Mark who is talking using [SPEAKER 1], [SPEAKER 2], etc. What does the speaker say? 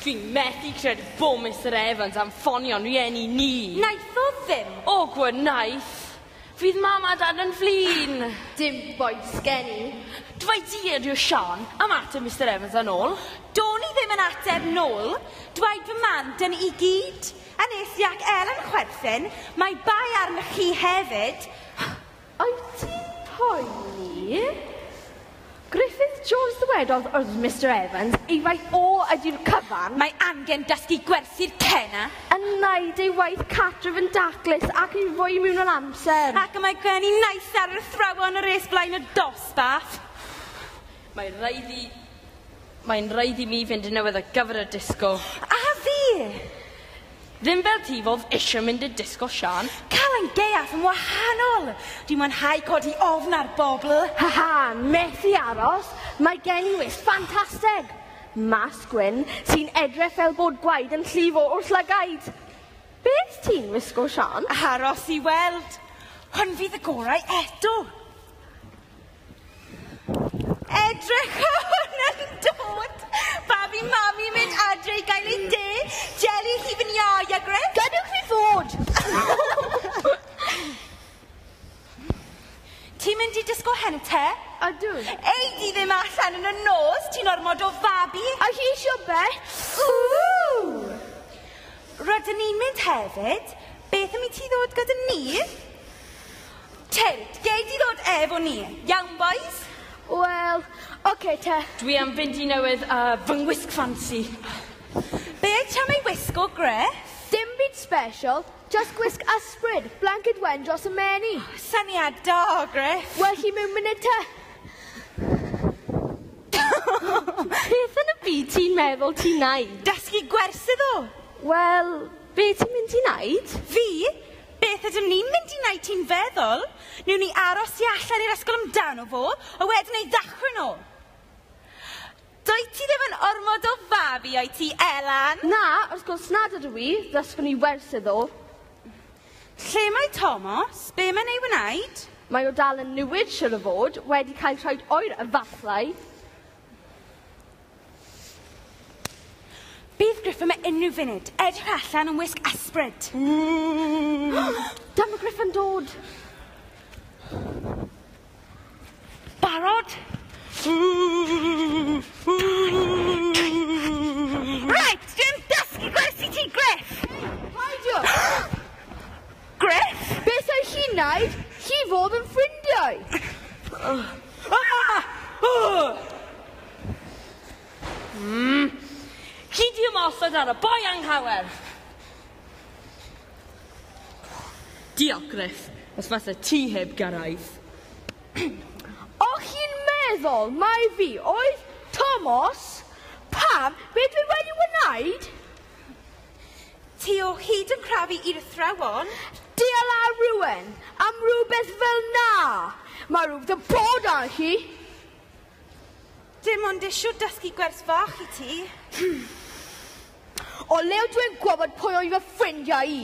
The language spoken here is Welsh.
[SPEAKER 1] Dwi'n methu credu bod Mr Evans am ffonio'n rieni ni. Naeth o ddim.
[SPEAKER 2] O, gwynaeth.
[SPEAKER 1] Fydd mam a dad yn flin. Dim boed
[SPEAKER 3] sgen i. Dwy di
[SPEAKER 1] ydyw Sian, am ateb Mr Evans yn ôl. Do'n i ddim yn
[SPEAKER 2] ateb nôl. Dwaed fy mam, dyn i gyd. A nes i ac Ellen chwerthin, mae bai arno chi hefyd. Wyt
[SPEAKER 3] ti'n poeni? Griffith Jones Ddywedodd wrth Mister Evans ei fai O ydy'r cyfan! Mae angen dysgu
[SPEAKER 2] gwerthu'r cena! Yn wneud ei
[SPEAKER 3] waith cartref yn daclus ac yn fwy mewnol amser. Ac y mae gen i
[SPEAKER 2] naill ar yr athrawon yr es blaen y dosbarth!
[SPEAKER 1] Mae rhaid i Mae'n rhaid i mi fynd yn newydd ar gyfer y disco. A fi! Ddim fel ti fodd eisiau mynd i'r disco, Sian. Cael ein deall
[SPEAKER 2] yn wahanol! Dwi'n mwynhau codi ofn ar bobl. Ha ha,
[SPEAKER 3] methu aros, mae gen i wis ffantastig! Mask gwyn sy'n edrych fel bod gwaed yn llifo o'r llygaid. Beth ti'n wisgo, Sian? Aros i weld!
[SPEAKER 2] Hwn fydd y gorau eto! Edrych o hwn yn dod! Babi mami mynd adre i gael ei de, jelly hi fy iau a gres. Gadwch fi fod! Ti'n mynd i disgo hente? Ydw. Ei
[SPEAKER 3] di ddim
[SPEAKER 2] allan yn y nos, ti'n ormod o fabi. A chi eisiau be? Rydyn ni'n mynd hefyd. Beth am i ti ddod gyda ni? Ted, gei di ddod efo ni. Iawn, bois? Wel,
[SPEAKER 3] oce te. Dwi am fynd i newydd
[SPEAKER 1] a fy ngwisg ffansi. Be
[SPEAKER 2] ti am ei wisgo, Griff? Dim byd
[SPEAKER 3] sbeshal, jyst gwisg ysbryd, blanced wen dros y meni. Syniad da,
[SPEAKER 2] Griff. Wel chi mewn munud
[SPEAKER 3] te. Beth yn y byd ti'n meddwl ti'n neud? Dysgu gwersi
[SPEAKER 2] ddo. Wel,
[SPEAKER 3] be ti'n mynd i neud? Fi?
[SPEAKER 2] Beth ydym ni'n mynd i wneud ti'n feddwl? Newn ni aros tu allan i'r ysgol amdano fo, a wedyn ei ddathlu nôl? Dwyt ti ddim yn ormod o fabi, wyt ti, Elan? Na, wrth gwrs
[SPEAKER 3] nad ydw i, ddysgwn i wers iddo.
[SPEAKER 2] Lle mae Tomos? Be mae'n ei wneud? Mae o dal yn
[SPEAKER 3] niwid, siwr o fod, wedi cael troed oer a fallau.
[SPEAKER 2] Bydd Griff yma unrhyw funud. Edrych allan yn wisg ysbryd.
[SPEAKER 3] Dyma Griff yn dod.
[SPEAKER 2] Barod? Right, dim dysgu gwersi ti, Griff! Paidiwch! Griff! Beth oedd
[SPEAKER 3] chi'n naid? Chi fodd yn ffrindiau!
[SPEAKER 1] Mm. Chi di ymosod ar y boi anghawer! Diolch, Griff, os fase ti heb gyrraedd.
[SPEAKER 3] O'ch chi'n meddwl mai fi oedd Tomos? Pam, be dwi wedi wneud?
[SPEAKER 2] Ti o hyd yn crafu i'r athrawon? Diala
[SPEAKER 3] rhywun am rhywbeth fel na! Mae rhywbeth yn bod ar hi! Dim
[SPEAKER 2] ond eisiau dysgu gwers fach i ti. Hmm.
[SPEAKER 3] O lew
[SPEAKER 2] dwi'n
[SPEAKER 3] gwybod pwy oedd fy
[SPEAKER 2] ffrindiau
[SPEAKER 3] i.